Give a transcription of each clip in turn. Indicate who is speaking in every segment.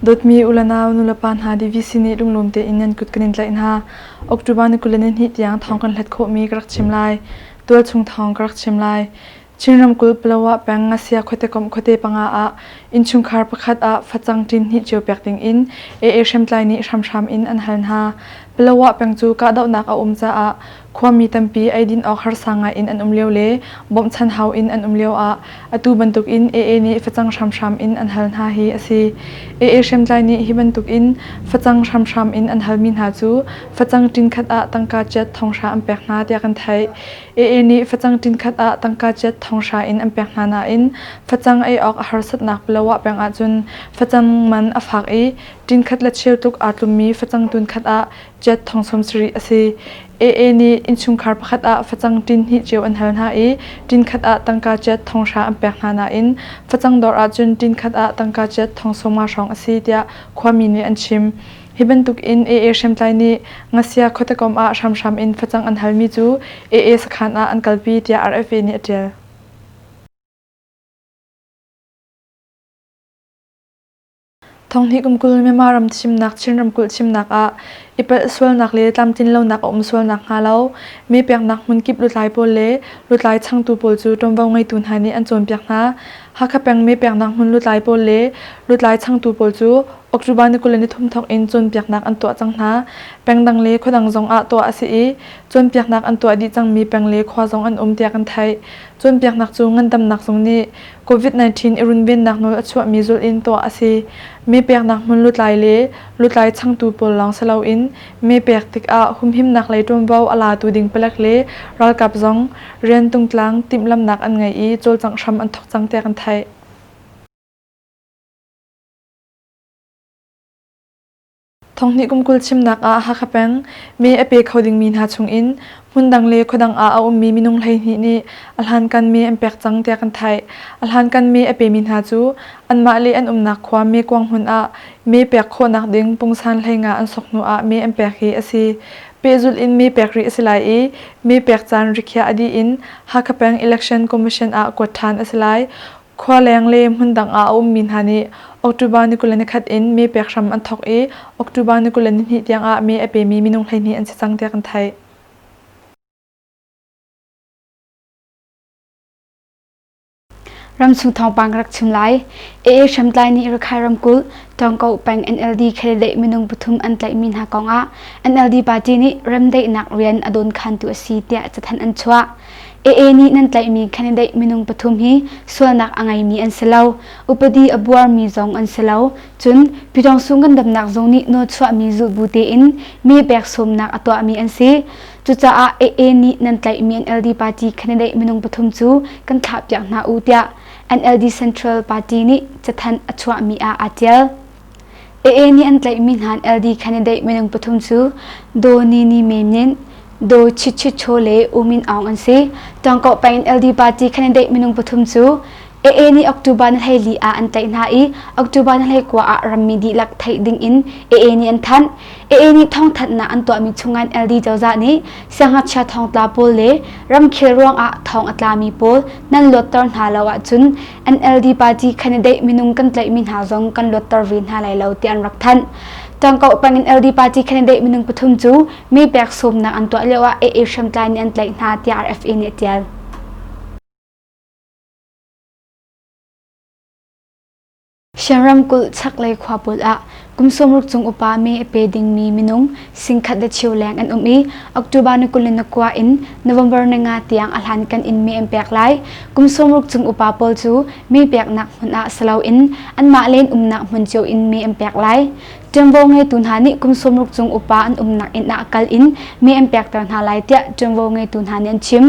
Speaker 1: Dawtmi ulanau nulepa hna DVC nih lunglawm tein nan kut kan in tlaih hna. October ni kul le ni hnih tiang thawng kan hlat khawhmi ka rak chim lai. Tualchung thawng ka rak chim lai. Chin ramkulh Palawa peng Ngasiya khuatekomh khuate panga ah innchungkhar pakhat ah facang ṭin hnih cio pek dingin AA hriamtlai nih hramhram in an hal hna. Palawa peng cu kahdohnak a um caah khuami tampi eidin awk harsa ngai in an um lio le bawmhchanh hau in an um lio ah atu bantukin AA nih facang hramhram in an hal hna hi a si. AA hriamtlai nih hi bantukin facang hramhram in an halmi hna cu facang ṭin khat ah tangka ciat thonghra an pek hna tiah kan theih. AA nih facang ṭinkhat ah tangka ciat thonghra in an pek hna nain facang ei awk a harsatnak Bloah peng ahcun facang man a fak i ṭinkhat le cheu tluk aa tlummi facang tunkhat ah ciat thong sawm sarih a si. AA nih innchungkhar pakhat ah facang ṭin hnih cio an hal hna i ṭinkhat ah tangka ciat thonghra an pek hna nain facang dawr ahcun ṭinkhat ah tangka ciat thong sawma hrawng a si tiah khuami nih an chim. Hi bantuk in AA hriamtlai nih Ngasia khuatekawm ah hramhram in facang an halmi cu AA sakhan ah an kalpi tiah RFA nih a ṭial. Thonghnih kum kul Myanmar ram thimnak Chin ramkulh thimnak ah i palh sualnak le tlamtlinlonak a um sualnak hnga lo mi peknak hmunkip lutlai pawl le lutlai changtu pawl cu ṭuanvo ngeitu hna nih an cawnpiak hna. Hakha peng mi peknak hmun lutlai pawl le lutlai changtu pawl cu October ni kul le ni thum thawk in cawnpiaknak an tuah cang hna. Pengdang le khuadang zong ah tuah a si i, cawnpiaknak an tuah dih cangmi peng le khua zong an um tiah kan theih. Cawnpiaknak cu ngandamnak zung nih Covid-19 i runvennak nawl a chuahmi zulh in tuah a si. Mepeknak hmun lutlai le lutlai changtu pawl lawng si loin mepek tikah humhimnak lei ṭuanvo a latu ding palek le ralkap zong rian tungtlang timhlamhnak an ngei i cawlcangh hram an thawk cang tiah kan theih. Thonghnih kum kul chimnak ah Hakha peng me a pe kho dingmi hna chungin hmundang le khuadang ah a ummi minung hleihnih nih a hlankan me an pek cang tiah kan theih. A hlankan me a pemi hna cu anmah le an umnak khua mekuang hmun ah me pek khawhnak ding pungsan hleinga an sok hnu ah me an pek hi a si. Pehzulh in me pek rih a si lai i me pek caan rikhiah a dih in Hakha peng Election Commission ah kuat ṭhan a si lai. Khualeng le hmundang ah a ummi hna nih October ni kul le ni khat in mee pek hram an thawk i October ni kul le ni hnih tiangah mee a pemi minung hleihnih an si cang tiah kan theih.
Speaker 2: Ramchung thawngpang ka rak chim lai. AA hriamtlai nih Rakhine ramkulh Tawngko peng NLD khelele minung pathum an tlaihmi hna kongah NLD party nih remdaihnak rian a dawnkhantu a si tiah cathanh an chuah. AA nih nan tlaihmi candidate minung pathum hi sualnak a ngeimi an si lo. Upadi a buarmi zong an si lo. Cun Pyidawngsu ngandamnak zung nih nawchuahmi zulbu tein mee pek sawmnak a tuahmi an si. Cucaah AA nih nan tlaihmi NLD party candidate minung pathum cu kan thlahpiak hna u tiah NLD Central Party nih cathanh a chuahmi ah aa tial. AA nih an tlaihmi hna LD candidate minung pathum cu Do Nini Menin, Do Chit Chit Cho le U Min Aung an si. Tawngkawh pah in LD party candidate minung pathum cu AA nih October ni hleili ah an tlaih hna i October ni hlei kua ah rammi dihlak theih ding in AA nih an thanh. AA nih thawngthanhnak an tuahmi chungan LD cozah nih siangngakchia thawngtla pawl le ramkhel ruangah thawng a tlami pawl nan luatter hna lo ahcun NLD party candidate minung kan tlaihmi hna zong kan luatter ve hna lai lo ti an rak thanh. Tangkauh pang in LD party candidate minung pathum cu mi pek sawmnak an tuah lio ah AA hriamtlai nih an tlaih hna tiah RFA nih a tial. Shan ramkulh chaklei khuapul ah kum sawmruk chung upa me a pe dingmi minung singkhat le chiu leng an um i October ni kul in nakua in November ni nga tiang a hlan kan in me an pek lai. Kum sawmruk chung upa pawl cu me peknak hmun ah siloin anmah len umnak hmun cio in me an pek lai. Ṭuanvo ngeitu hna nih kum sawmruk chung upa an umnak inn ah kal in me an pekter hna lai tiah ṭuanvo ngeitu hna nih an chim.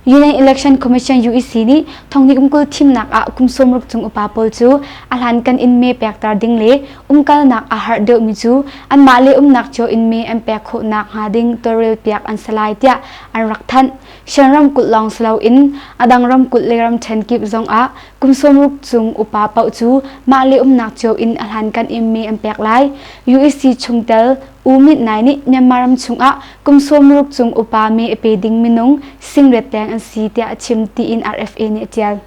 Speaker 2: Union Election Commission UEC nih thongnikum kul thimnak ah kum sawmruk cung upa pawl cu a hlankan in me pekter ding le umkalnak a har deuhmi cu anmah le umnak cio in me an pek khawhnak hnga ding tawlrel piak an si lai tiah an rak thanh. Shan ramkulh lawng si loin a dang ramkulh le ramṭhen kip zong ah kum sawmruk cung upa paoh cu mah le umnak cio in a hlankan in me an pek lai. UEC chungtel U Mit Nai nih Myanmar ram chung ah Kum sawmruk chung upa me a pe ding minung singrep deng an si tiah a chim tiin RFA nih a tial.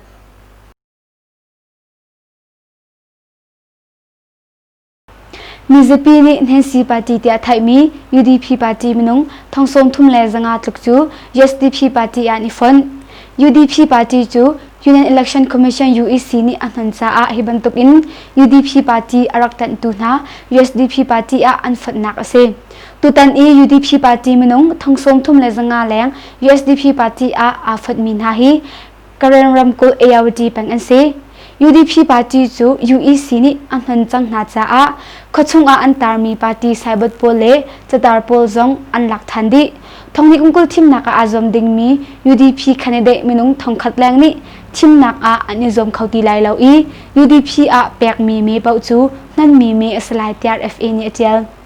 Speaker 2: Mizapi nih Nancy Party tiah thaihmi UDP party minung thongsawm thum le zanga tluk cu USDP party ah ni fonh. UDP party cu Union Election Commission UEC nih a hnon caah hi bantuk in UDP party a rak tanhtu hna USDP party ah an fonhnak a si. Tutan i UDP party minung thong sawm thum le zanga leng USDP party ah aa fotmi hna hi Karen ramkulh ARD peng an si. UDP party cu UEC nih a hman cang hna caah khuachung ah an tarmi party saibot pawl le catar pawl zong an lak than dih. Thongni umkul thimnak ah aa zuam dingmi UDP candidate minung thongkhat leng nih thimnak ah an i zuam kho ti lai lo i UDP ah pekmi mee paoh cu hmanmi mee a si lai tiah FA nih a tial.